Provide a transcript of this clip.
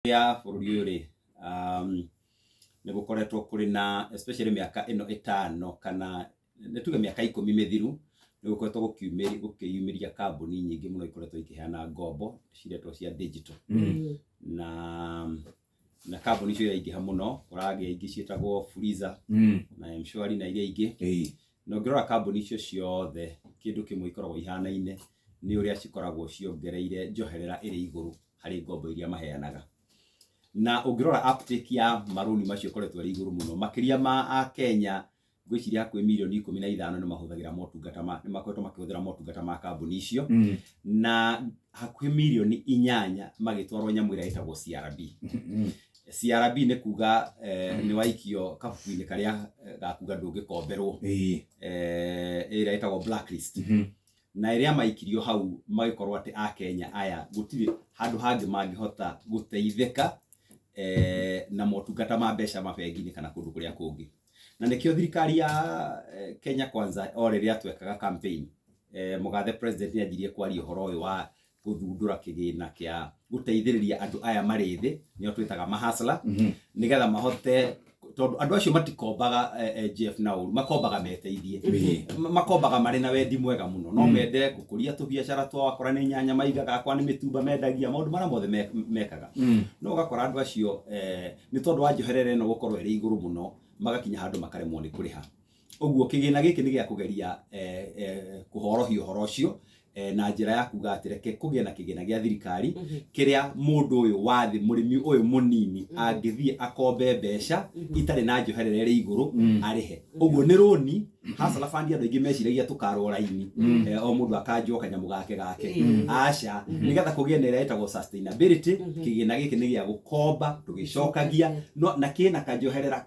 ya bũrũri ũyũ rĩ um, nĩ gũkoretwo kũrĩ na especially mĩaka ĩno ĩtano kana nĩ tuge mĩaka ikũmi mĩthiru nĩ gũkoretwo gũkiumĩri- gũkĩyumĩria kambuni nyingĩ mũno ikoretwo ikĩheana ngombo ciretwo cia digital Mm. na na kambuni icio iraingĩha mũno ũragĩa ingĩ ciĩtagwo Fuliza Mm. na mshwari na iria ingĩ Ĩĩ. na ũngĩrora kambuni icio ciothe kĩndũ kĩmwe ikoragwo ihanaine nĩ ũrĩa cikoragwo ciongereire njoherera ĩrĩ igũrũ harĩ ngombo iria maheanaga. Na ũngĩrora uptake ya marũni macio ĩkoretwo ĩrĩ igũrũ mũno, makĩria ma Akenya ngwĩciria hakuhĩ mirioni ikũmi na ithano nĩ mahũthagĩra motungata ma nĩ makoretwo makĩhũthĩra motungata ma kambuni icio Mm. na hakuhĩ mirioni inyanya magĩtwarwo nyamũ ĩrĩa ĩtagwo CRB. Mm. CRB nĩ kuga eh, nĩ waikio kabuku-inĩ karĩa eh, gakuga ndũngĩkomberwo Ĩĩ. eh, ĩrĩa ĩtagwo blacklist Mhm. na rĩrĩa maikirio hau magĩkorwo atĩ akenya aya gũtirĩ handũ hangĩ mangĩhota gũteithĩka eh, na motungata ma mbeca mabengi-inĩ kana kũndũ kũrĩa kũngĩ na nĩkĩo thirikari ya eh, kenya kwanza o rĩrĩa twekaga campaign eh, mũgathe president nĩ anjirie kwaria ũhoro ũyũ wa gũthundũra kĩgĩna kĩa gũteithĩrĩria andũ aya marĩ thĩ nĩo twĩtaga mahasla Mhm. nĩgetha mahote tondũ andũ acio matikombaga eh, eh, GF na ũru makombaga meteithie Mhm. Ma- makombaga marĩ na wendi mwega mũno no mende gũkũria tũbiacara twao akora nĩ nyanya maigaga akora nĩ mĩtumba mendagia maũndũ marĩa mothe me- mekaga Mm. no ũgakora andũ acio eh, nĩ tondũ wa njoherera ĩno gũkorwo ĩrĩ igũrũ mũno magakinya handũ makaremwo nĩ kũrĩha Ũguo kĩgĩna gĩkĩ nĩ gĩa kũgeria kũhorohia ũhoro ũcio na njĩra ya kuga atĩ reke kũgĩe na kĩgĩna gĩa thirikari kĩrĩa mũndũ ũyũ wa thĩ mũrĩmi ũyũ mũnini angĩthiĩ akombe mbeca itarĩ na njoherera ĩrĩ igũrũ arĩhe ũguo nĩ rũni hasara bandi andũ aingĩ meciragia tũkarwo raini eh, o mũndũ akanjwo kanyamũ gake gake aca nĩgetha kũgĩe na ĩrĩa ĩtagwo sustainability kĩgĩna gĩkĩ nĩ gĩa gũkomba tũgĩcokagia no- na kĩna kanjoherera